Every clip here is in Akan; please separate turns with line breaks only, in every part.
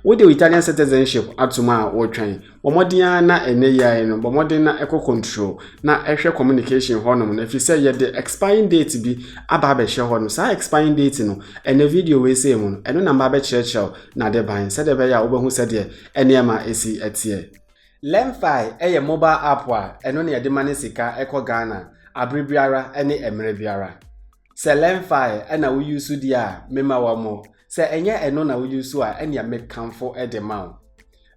Wode wo Italian citizenship atom a, wotwɛn. Bɔ mmɔden ara na ɛnyɛ yie ara no, bɔ mmɔden na kɔ control na hwɛ communication hɔnom no ɛfiri sɛ yɛde expiring date bi aba abɛhyɛ hɔ no, saa expiring date no, ɛnɛ video wei sei mu no, ɛno na mɛba abɛkyerɛkyerɛ wo n'ade ban sɛdeɛ ɛbɛyɛ a wobɛhu sɛdeɛ nneɛma ɛsi teɛ. Lemfi yɛ mobile app a ɛno na yɛde mane sika kɔ Ghana abere biara ne mmerɛ biara. sɛ lɛmfae ɛna wo yusu di a mema wɔ mo sɛ ɛnyɛ ɛno na wo yusu a ɛnea mekamfo de ma wo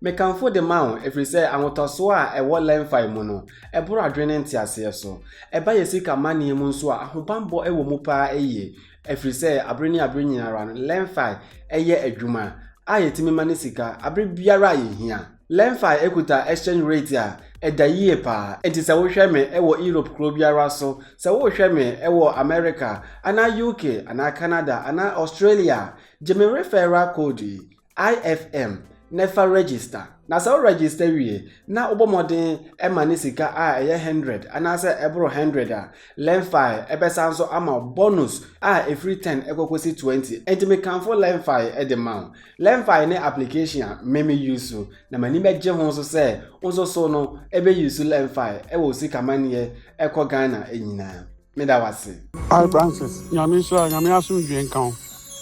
mekamfo de ma wo ɛfiri sɛ ahotɔsoɔ a ɛwɔ lɛmfae mu no ɛboro adwene nteaseɛ so ɛba yɛ sika manneɛ mu nso a ahobanbɔ ɛwɔ mu paa ɛyie ɛfiri sɛ abere ne abere nyinara no lɛmfae ɛyɛ adwuma a yɛtumi ma ne sika abere biara a yɛhia Lemfi kuta exchange rate a ɛda yie paa, enti sɛ wohwɛ me wɔ Europe kuro biara so, sɛ worehwɛ me wɔ America anaa UK anaa Canada anaa Australia a, gye me referral code yi, IFM, na fa register. Na sɛ wo register wie na wobɔ mmɔden ma ne sika a ɛyɛ hundred anaasɛ ɛboro hundred a, Lemfi bɛsan nso ama wo bonus a ɛfiri ten kɔkɔsi twenty. Enti mekamfo Lemfi de ma wo. Lemfi ne application a me me use na m'ani bɛgye ho nso sɛ wo nso so no ɛbɛ use Lemfi ɛwɔ osika maneɛ ɛkɔ Ghana nyinaa. Meda wase. Hi Francis,
Nyame nhyira wo, Nyame asomdwie nka wo.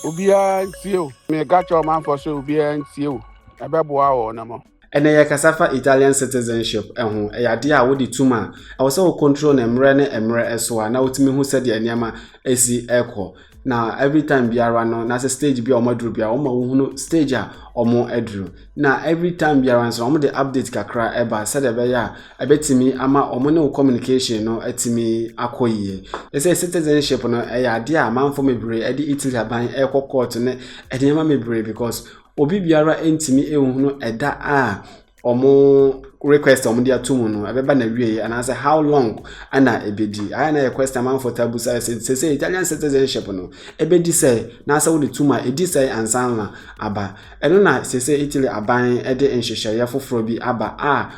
Obiara ntie o. Meka kyerɛ ɔmanfoɔ sɛ obiara ntie o, ɛbɛboa wɔn mo. Ɛnnɛ yɛrekasa fa
Italian citizenship ho, ɛyɛ adeɛ a wode tum a, ɛwɔ sɛ wo control no mmerɛ ne mmerɛ so a, na wotumi hu sɛdeɛ nneɛma ɛsi ɛkɔ. Na every time biara no, na sɛ stage bi a wɔn aduru biara, wɔn ma wohunu stage a wɔn aduru. Na every time biara nso, wɔn de update kakra ɛba sɛdeɛ ɛbɛyɛ a, ɛbɛtumi ama wɔn ne wo communication no atumi akɔ yie. Ɛsɛ citizenship no, ɛyɛ adeɛ a amanfoɔ bebree ɛde Italy aban ɛrekɔ court ne nneɛma bebree because Obi biara ntumi nhunu ɛda a wɔn request a wɔde ato mu no ɛbɛba na wieɛ anaasɛ how long ɛna ɛbɛdi ayɛ na yɛ question amanfoɔ taa busa sɛ sɛ sɛ Italian citizenship no ɛbɛdi sɛ na sɛ wode tum a ɛdi sɛ ansa na aba ɛno na sɛ sɛ Italy aban ɛde nhyehyɛeɛ foforɔ bi aba a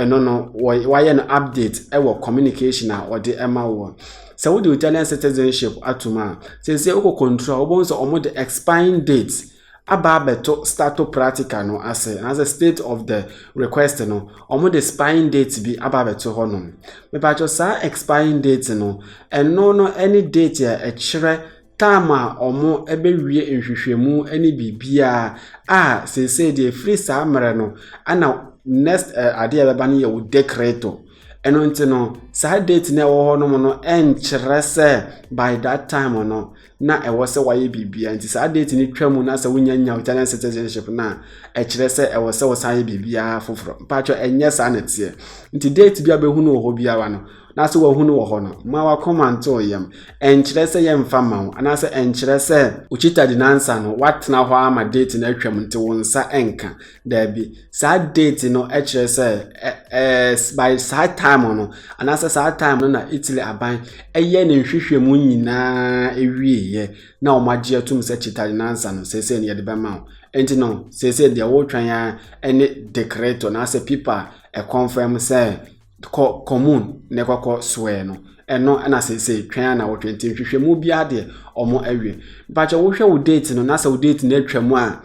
ɛno no wɔayɛ no update ɛwɔ communication a wɔde ɛma wɔ sɛ wode Italian citizenship atum a sɛ sɛ wokɔ control a wobɛhu sɛ wɔde expiring date aba abɛto stato pratica no ase anaasɛ state of the request no wɔn de expiring date bi aba abɛto hɔ nom mipatwɛ saa expiring date no ɛno no ɛne date a ɛkyerɛ time a wɔn ɛbɛwie nhwehwɛmu ɛne biribiara a seesei deɛ efiri saa mmerɛ no ɛna next ɛɛ eh, adeɛ a ɛbɛba no yɛ wo decreto ɛno nti no saa date na ɛwɔ hɔ nom no ɛnkyerɛ sɛ by that time no na ɛwɔ sɛ wayɛ biribiara nti saa date no twa mu na sɛ wonya nya Italian citizenship no a ɛkyerɛ sɛ ɛwɔ sɛ wosan yɛ biribiara foforɔ mpaatwɔ ɛnyɛ saa na ɛteɛ nti date bi a bɛhu no wɔ hɔ biara no na sɛ wahu no wɔ hɔ no ma wakɔma nto wo yam ɛnkyerɛ sɛ yɛmfa ma wo anaasɛ ɛnkyerɛ sɛ wokyita di nansa no woatena hɔ ama date no atwam nti wo nsa ɛnka Daabi, saa date no kyerɛ sɛ ɛ ɛɛ by saa time no anaasɛ saa time no na Italy aban yɛ ne nhwehwɛmu nyinaa wieeɛ na wɔagye atum sɛ Cittadinanza no seesei no yɛde bɛma wo. Nti no seesei deɛ wotwɛn ara ne decreto anaasɛ pipa a ɛconfirm sɛ kɔ commune na ɛkɔkɔ soɛ no ɛno na seesei twɛn a na wɔtwɛn nti nhwehwɛmu biara deɛ wɔn awie mpakyɛ wohwɛ wo date no na sɛ wo date no atwa mu a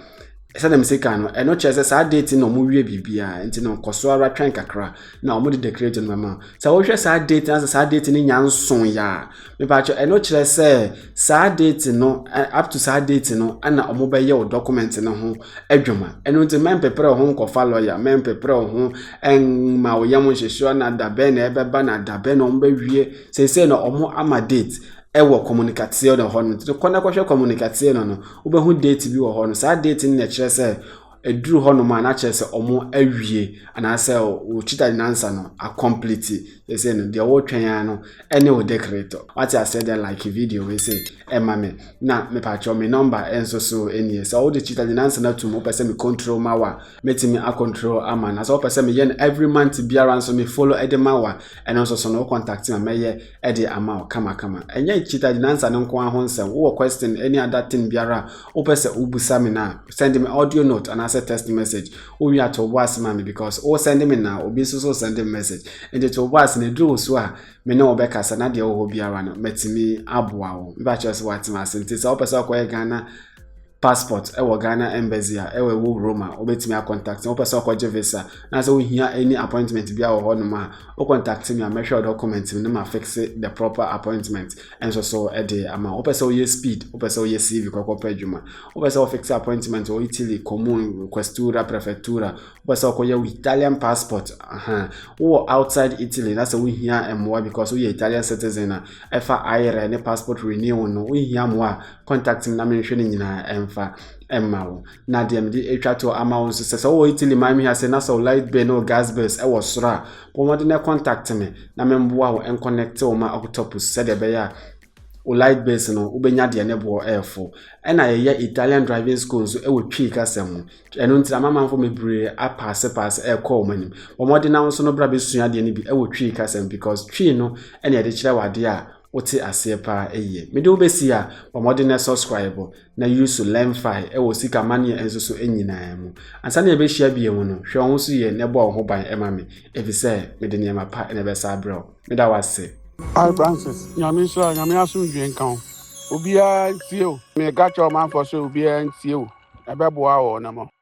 sɛdeɛ mesi kan no ɛno kyerɛ sɛ saa date no na wɔn wie biribiara nti no kɔ so ara twɛn kakra na wɔn de decrate no bɛma sɛ wohwɛ saa date no na sɛ saa date no nya nso yɛ a mepakyɛ ɛno kyerɛ sɛ. saa date no up to saa date no ɛna wɔn bɛyɛ o document no ho adwuma ɛno nti mɛmpepere ho nkɔfa lɔya mɛmpepere ho ɛnma o yam nhyehyɛ na dabɛn na ɛbɛba na dabɛn na wɔn bɛwie sese na wɔn ama date ɛwɔ communicateɛ no hɔ no nti kɔ na kɔhwɛ communicateɛ no no wobɛhu date bi wɔ hɔ no saa date no na ɛkyerɛ sɛ. ɛduru hɔnom a na kyerɛ sɛ wɔn awie anaasɛ wo chita de nansa no akɔmplete sɛsɛ no deɛ wɔretwɛn ara no ɛne wo decreto wate aseɛ deɛ like video wei sɛ ɛma me na mepakyɛw me nɔmba nso so ɛnie sɛ wode chita de nansa no atum wopɛ sɛ me control ma wa mɛtumi acontrol ama na sɛ wopɛ sɛ meyɛ no every month biara nso me follow ɛde ma wa ɛno nso so no wo contact ma mɛyɛ de ama wo kamakama. Ɛnyɛ cheetah gyinaansa no nko ara ho nsɛm. Wowɔ question ne ada thing biara a wopɛ sɛ wobisa me no a, send me audio note anaasɛ text message. Wowie a to wo bo ase ma me because wo send me na obi nso so send me message. Nti to wo bo ase na ɛduru wo so a me ne wo bɛkasa na deɛ wɔ hɔ biara no matumi aboa wo. Mepa kyerɛ sɛ woatena ase. Nti sɛ wopɛ sɛ wokɔyɛ Ghana passport ɛwɔ Ghana embassy a ɛwɔ ɛwɔ Roma wobɛtumi a contact wopɛ sɛ ɔkɔgye visa na sɛ wohia any appointment bi a wɔ hɔ nom a wo contact me a mɛhwɛ wo document no ma fixe the proper appointment ɛnso so ɛde ama wopɛ sɛ woyɛ speed wopɛ sɛ woyɛ CV kɔkɔ pɛ adwuma wopɛ sɛ wofixe appointment wɔ Italy comune questura prefectura Wopɛ sɛ ɔkɔyɛ wo Italian passport ahan wowɔ outside Italy na sɛ wohia mmoa because woyɛ Italian citizen a ɛfa ayerɛ ne passport renewal no wohia mmoa a contact me na menhwɛ no nyinaa ɛmfa ɛma wo na deɛ mede atwa toɔ ama wo nso sɛ sɛ wowɔ Italy man mi ase na sɛ wo light bill ne wo gas bills ɛwɔ soro a bɔ mmɔden contact me na memboa wo ɛnconnect wo ma octopus sɛdeɛ ɛbɛyɛ a Wo light base no wobɛnya deɛ ne boɔ ɛɛfo. Ɛna yɛyɛ Italian driving school nso ɛwɔ Twi kasa mu. Ɛno nti amamanfo bebree apaase paase ɛɛkɔ wɔn anim. Bɔ mmɔden na wo nso no bra bɛsua adeɛ no bi ɛwɔ Twi kasa mu because Twi no ɛna yɛde kyerɛ wo adeɛ a wote aseɛ paa yie. Mede wo bɛsi a bɔ mmɔden na subscribe na use Learnfy ɛwɔ sika maneɛ nso so nyinaa mu. Ansa na yɛbɛhyia bio mu no hwɛ wo ho so yie na ɛbɔ wo ho ban ma me efisɛ mede nneɛma pa na ɛbɛsa abrɛ wo. Meda wo ase. Hi Francis,
Nyame nhyira wo, Nyame asomdwie nka wo. Obiara ntie o. Meka kyerɛ ɔmanfoɔ sɛ obiara ntie o, ɛbɛboa wɔnom.